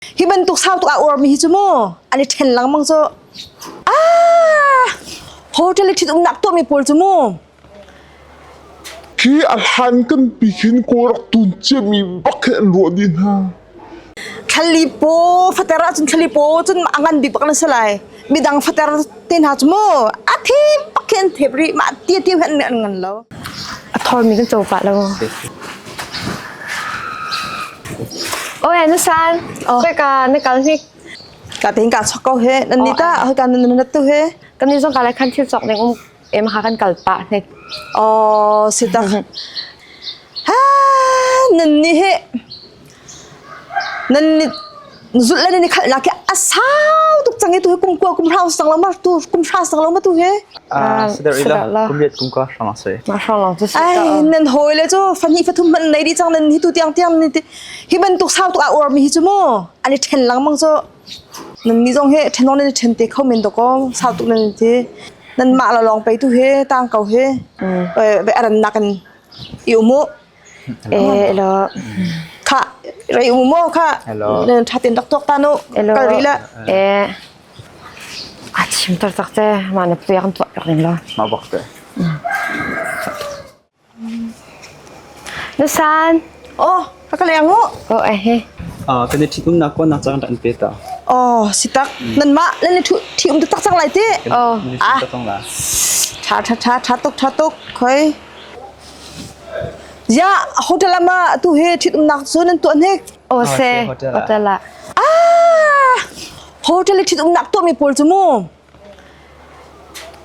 hi bantuk sau tuk a urmi hi cu mu an i ṭhen lengmang cu a hotel i ṭhitumnak tuahmi pawl cu mu hi a hlan kan pikin kaw rak tun ciami bak he luah dih hna thlalli paw fater ahcun thlalli paw cun a ngan bik bak na si lai midang fater te hna cu mu a thi pak hin thep ri ma ti ti han an ngan lo a thor mi kan chopa lo oi na san pe ka na kal hi ka tin ka chok ko he nan ni ta ho kan nan tu he kan ni zong ka lai khan thil chok ding um Emha kan kal pah ne. Oh, sitang. Ha, nan ni he. Nan ni zul la ni khal na ke asau tuk change tu kum kwa kum hra sang la mar tu kum hra sang la ma tu he. Ah, sedar ila kum yet kum ka hrang ase. Ma hrang lang tu sita. Ai, nan hoi le chu fanhi fathum man nei di chang nan hi tu tiang tiang ni ti. Hi ban tuk sau tu a or mi hi chu mo. Ani then lang mang cho Nannih zong hi ṭhenawk nan i ṭhen te kho men dawh ko. Sau tuk nan in ti. Nanmah le lawng peitu hi tang ko hi veiarannak in i um u. Elo. Kha rei um u kha. Ṭhatin rak tuak tan u. Kal rih le. A chim tar tak te. Ma na piang tuak ning lo. Ma bak te. Na san? Aw, a ka leng u. Oh, eh he. Ah, kan i ṭhitumnak kuanak cang kan pe ta. Aw, si tak. Nanmah nan i ṭhium tak cang lai ti. Oh, ah. Ṭha ṭha ṭha ṭha tuk ṭha tuk. Khoi. Ya, hotel ama tu he ṭhitumnak cu nan tuah hnik. Oh, se. Hotel ah. Ah, hotel i ṭhitumnak tuahmi pawl cu mu.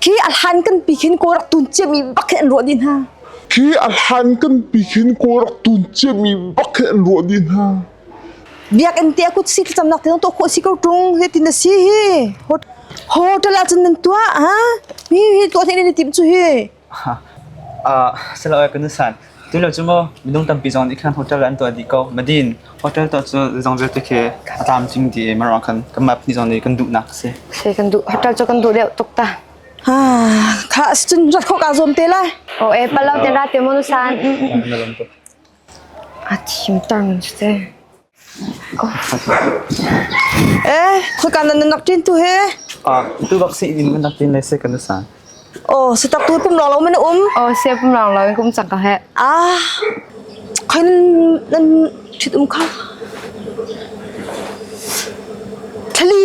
Khi a hlan kan pi khin ko rak tun ciam i bak hin ruah ni hna. Khi a hlan kan pi khin ko rak tun ciam i bak hin ruah ni hna. Biakinn tia kut si cam nak te to kho si ko tung he tin na si hi. Hotel ah cun nan tua ha? Mi hi to thei ni tim chu hi. Siloah kan nusan. Tilo cu maw minung tampi zong nih khan hotel an tuah dih ko. Madin hotel tuah cu zong vialte khi a tlam cing dih i marwah khan kan map ni zong nih kan duhnak a si. Se kan duh hotel cu kan duh deuh tuk ta. Ha kha cun rat khawk aa zuam te lai. O e palo te ra te mu nusan. A thim tang cu te. Hika nan nak ṭin tu hi. Tu bak si in nan nak ṭin lai se kan sa. Aw, si tak tu pum rong lo men um. Aw, se pum rong lo in kum chak ka he. Ah. Khoin nan ṭit um kha. Thali.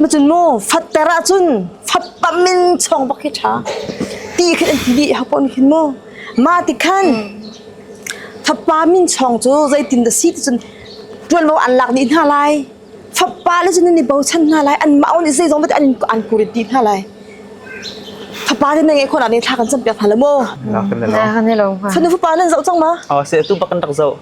Macun mu fatter ahcun fappam in chawng bak hi ṭha ti khin an ti dih hapon khin mu ma ti khan fappa min chawng cu zeitin dah si ticun ṭuanvo an lak dih hna lai fappa le cun an i bochan hna lai an mah nih zei zong an an kurit dih hna lai fapa te nai khona ne thla kan cam piak hna la mu na kan ne lo fanu fapa nan zoh cang ma a se tu bak kan rak zoh